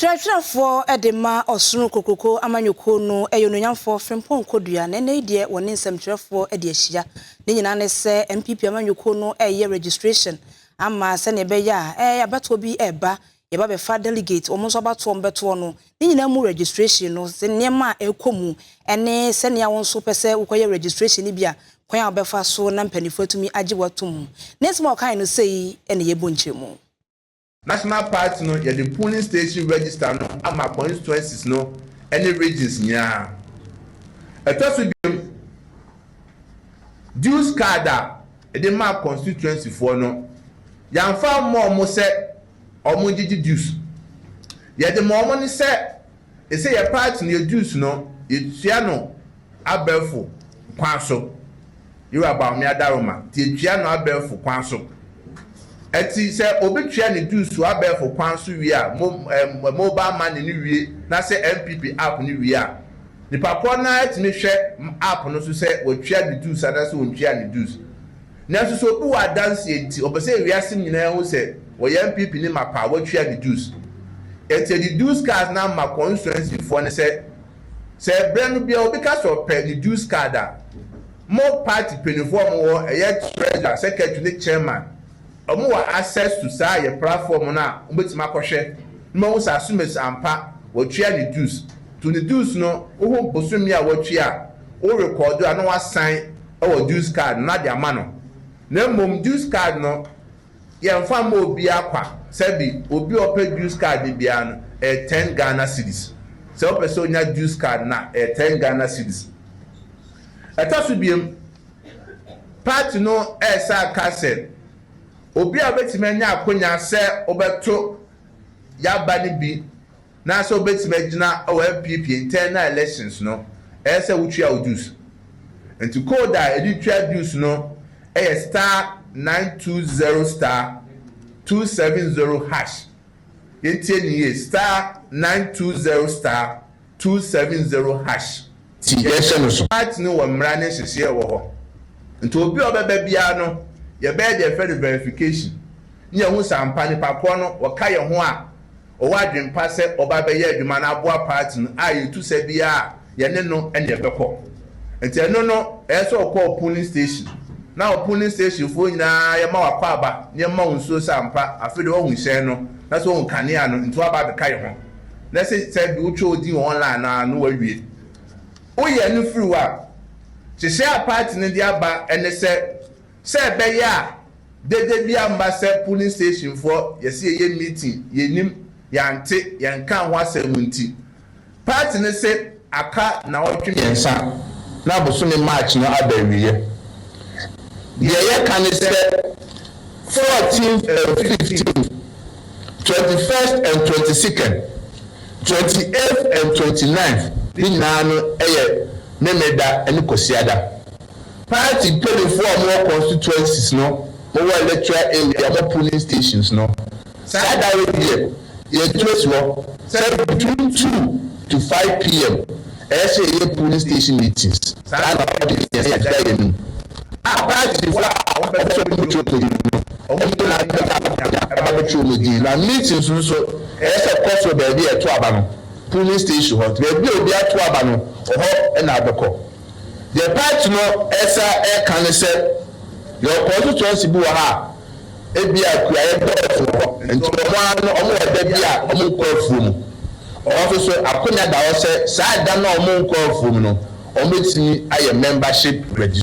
Twerɛtwerɛfoɔ de ma Ɔsoro Nkokuroko Amanyɔkuo no yɛ onuonyamfoɔ Frimpong Kodua na ɛnnɛ yi deɛ wɔne nsɛmtwerɛfoɔ de ahyia. Ne nyinaa ne sɛ NPP amanyɔkuo no reyɛ registration ama sɛdeɛ ɛbɛyɛ a ɛɛ abatoɔ bi reba yɛba bɛfa delegate wɔn nso abatoɔ wɔn bɛtoɔ no ne nyinaa mu registration no sɛ nneɛma a ɛrekɔ mu ɛne sɛnea wɔn nso pɛ sɛ wokɔyɛ registration no bi a kwan a wɔbɛfa so na mpanimfoɔ atumi agye wɔ ato mu ne nsɛm a wɔkae no sɛ yi na yɛbɔ nkyerɛmu. National Party no yɛde polling station register no ama constituencies no ne regions nyinaa. Ɛtɔ so biom, dues card a yɛde maa constituency foɔ no, yɛamfa ammɔ wɔn sɛ wɔn gyegye dues. Yɛde ma wɔn ne sɛ Ese yɛ part no yɛ dues no yɛtua no abɛɛfo kwan so. Yewura Bawumia Adaroma nti yɛtua no abɛɛfo kwan so. Ɛti sɛ obi tua ne dues wɔ abɛɛfo kwan so wie a, mo eh, mobile money no wie na sɛ NPP app no wie a, nipa korɔ no ara tumi hwɛ app no so sɛ watua ne dues anaasɛ ontuaa ne dues. Nanso sɛ obi wɔ adanseɛ nti ɔpɛ sɛ wiase nyinaa hu sɛ ɔyɛ NPP ni mapa a watua ne dues. Ɛnti ɛde dues card no ama constituency foɔ no sɛ sɛ ɛbrɛ no biara obi ka sɛ ɔpɛ ne dues card a mo party mpaninfoɔ a wɔwɔ hɔ ɛyɛ treasurer, secretary ne chairman wɔn wɔ access to saa yɛ platform no a wɔbɛtumi akɔhwɛ na wɔahu sɛ Asumasi ampa watua ne dues. To ne dues no wohu bosome a watua a wo record a na wasan wɔ Jus card no de ama no, na mmom Jus card no yɛmfa mmɔ obiara kwa, sɛbi obi a ɔpɛ Jus card no biara no ɛyɛ ten Ghana cedis, sɛ wopɛ sɛ onya Jus card no a ɛyɛ ten Ghana cedis. Ɛtɔ so biom, party no ɛresan aka sɛ obi a obetumi anya akonya sɛ wobɛto yɛaba no bi na sɛ wobɛtumi agyina wɔ NPP internal elections no ɛyɛ sɛ wotua wo dues. Nti code a yɛde tua dues no yɛ star nine two zero star two seven zero hash. Yɛntie no yie, star nine two zero star two seven zero hash. ti yɛhyɛ no so. Part no wɔ mmara ne nhyehyɛɛ a ɛwɔ hɔ nti obi a ɔbɛba biara no yɛbɛyɛ deɛ yɛfrɛ no verification ne yɛahu sɛ ampa nipa korɔ no ɔka yɛn ho a ɔwɔ adwene pa sɛ ɔba abɛyɛ adwuma no aboa part no a yɛtu sa biara a yɛne no ne yɛbɛkɔ nti ɛno no ɛyɛ sɛ ɔkɔ polling station na wɔ polling station foɔ nyinaa yɛma wakwaaba na yɛma wo nsuo sɛ ampa afei deɛ woahu hyɛn no na sɛ woahu kanea no nti woaba abɛka yɛn ho. na sɛ sɛ de wotwa wo din online no a na woawie. Woyɛ no firi hɔ a, nhyehyɛe a paati no de aba ne sɛ, sɛ ɛbɛyɛ a dede bi amma sɛ polling stationfoɔ yɛse yɛyɛ meeting, yɛnnim, yɛante, yɛnkaa ho asɛm nti, paati no se, Aka nnawɔtwe mmiɛnsa na bosome March no aba awieɛ. Deɛ yɛka ne sɛ, fourteenth and fifteenth, twenty first and twenty second, twenty eighth and twenty ninth ne nyinaa no yɛ Memeneda ne Kwasiada. Party mpaninfoɔ a wɔwɔ constituencies no, wɔwɔ electoral area, wɔn polling stations no, Saa da wei deɛ yɛgyina si hɔ sɛ between two to five PM ɛyɛ sɛ yɛyɛ polling station meetings saa na ɔde yɛn yɛn da yɛn anim a partyfoɔ a wɔn pɛ sɛ wɔn twerɛ wɔn din no wɔn nyinaa bɛ ba abɛgya ɛba bɛ twerɛ wɔn din na meetings no nso ɛyɛ sɛ kɔ so baabi a ɛto aba no polling station hɔ nti baabi a obi ato aba no ɔhɔ ɛna abɛkɔ deɛ party no ɛsa ɛka ne sɛ yɛwɔ constituency bi wɔ ha a. Ebia kuayɛ dɔɔso wɔ hɔ, enti wɔn ara no wɔwɔ ɛda bi a wɔnkɔ afuom. Wɔn nso so, akwannya da hɔ sɛ saa ɛda no a wɔnkɔɔ afuom no, wɔbɛtumi ayɛ membership registration.